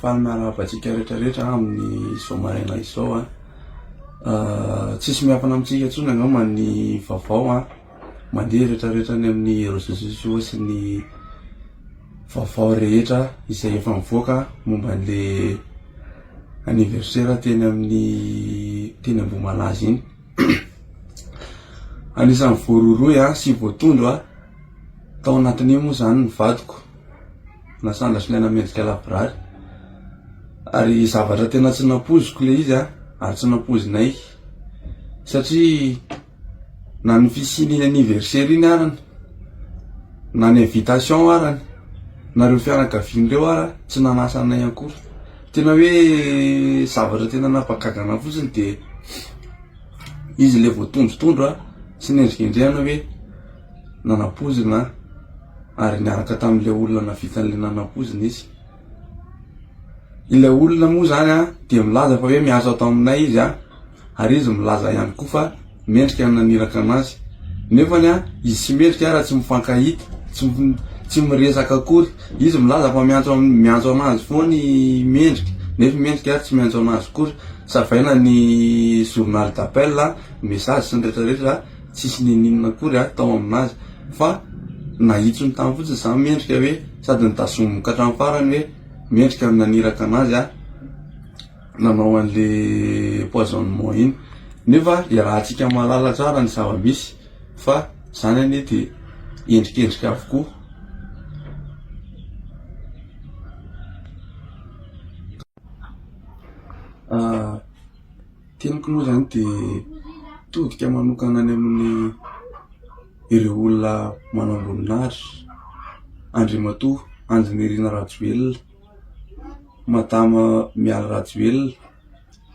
Faly miarahaba antsika rehetra rehetra amin'ny izao maraina izao a. Tsisy miafina amintsika intsony angamba ny vaovao a, mandeha rehetra rehetra any amin'ny réseaux sociaux sy ny vaovao rehetra izay efa mivoaka momba an'le anniversaire teny amin'ny teny Ambohimalaza iny. Anisan'ny voarohirohy a sy voatondro a tao anatin'io moa zany ny vadiko. Nasandra sy niaina mendrika lavorary. Ary zavatra tena tsy nampoiziko ilay izy ary tsy nampoizinay satria na ny fisian'iny anniversaire iny arany na ny invitation arany na ireo fianakaviany ireo ara tsy nanasa anay akory. Tena hoe zavatra tena nampagaga anah fotsiny dia izy ilay voatondrotondro sy nendrikendrehana hoe. Nanapoizina ary niaraka tamin'ilay olona navitan'ilay nanapoizina izy. Ilay olona moa izany dia milaza fa hoe miasa ato aminay izy ary izy milaza ihany koa fa mendrika ny naniraka anazy. Nefa izy tsy mendrika raha tsy mifankahita, tsy tsy miresaka akory. Izy milaza fa miantso miantso anazy foana i Mendrika nefa i Mendrika ary tsy miantso anazy akory. Savaina ny journal d'appel, ny message sy ny rehetra rehetra. tsisy n'inon'inona akory ary tao aminazy fa nahitsony tany fotsiny za mendrika hoe sady nitazominy ka hatramin'ny farany hoe mendrika ny naniraka anazy aho nanao an'le poisonnement iny nefa iarahantsika mahalala tsara ny zava-misy fa zany anie de endrikendrika avokoa Teniko moa izany dia todika manokana any amin'ny ireo olona manamboninahitra, Andriamatoa Andry Nirina Rajoelina, Madama Mialy Rajoelina,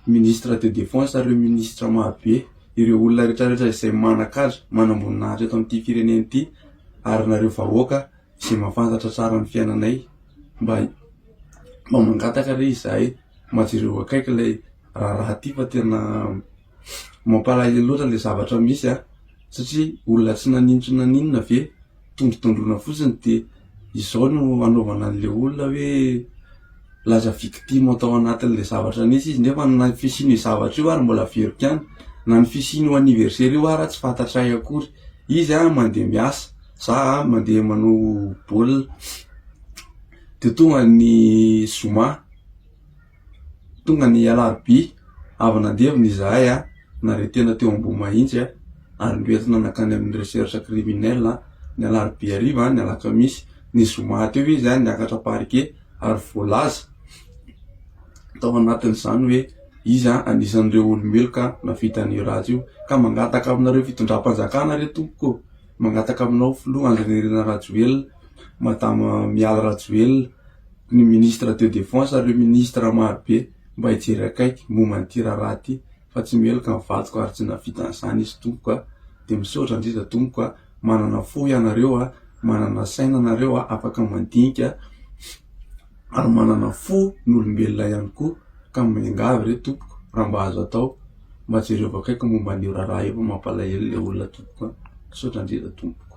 Ministre de Defense ary ireo Ministra marobe, ireo olona rehetrarehetra izay manan-kaja, manamboninahitra eto amin'ity firenena ity ary nareo vahoaka izay mahafantatra tsara ny fiainanay mba mangataka re izahay. mba jereo akaiky ilay raharaha ity fa tena mampalahelo loatra ilay zavatra misy an, satria olona tsy naninona tsy naninona ve tondrotondroina fotsiny de izao no anaovana an'ilay olona hoe lasa victime tao anatin'ilay zavatra nisy izy nefa na ny fisian'io zavatra io ary mbola averiko ihany, na ny fisian'io anniversaire io ary tsy fantatray akory, izy an mandeha miasa, za an mandeha manao baolina, Dia tonga ny zoma, tonga ny alarobia, avy nandevina izahay an, nare tena teo Ambohimahitsy an, ary noentina nankany amin'ny recherche criminel an, ny alarobia hariva an, ny alakamisy, ny zoma teo izy an, niakatra parquet ary voalaza tao anatin'izany hoe izy an, anisan'ireo olo-meloka nahavita an'io ratra io, ka mangataka aminareo fitondram-panjakana re tompoko ô! Mangataka aminao filoha Andry Nirina Rajoelina, madama Mialy Rajoelina, ny ministre de defense ary ireo ministre maro be mba hijery akaiky momba an'ity raharaha ity fa tsy meloka ny vadiko ary tsy nahavita an'izany izy tompoko a! dia misaotra indrindra tompoko a! manana fo ianareo a! manana saina nareo a! afaka mandinika ary manana fo n'olombelona ihany koa ka miangavy re tompoko raha mba azo atao mba jereo avy akaiky momba an'io raharaha io fa mampalahelo le olona tompoko a, misaotra indrindra tompoko.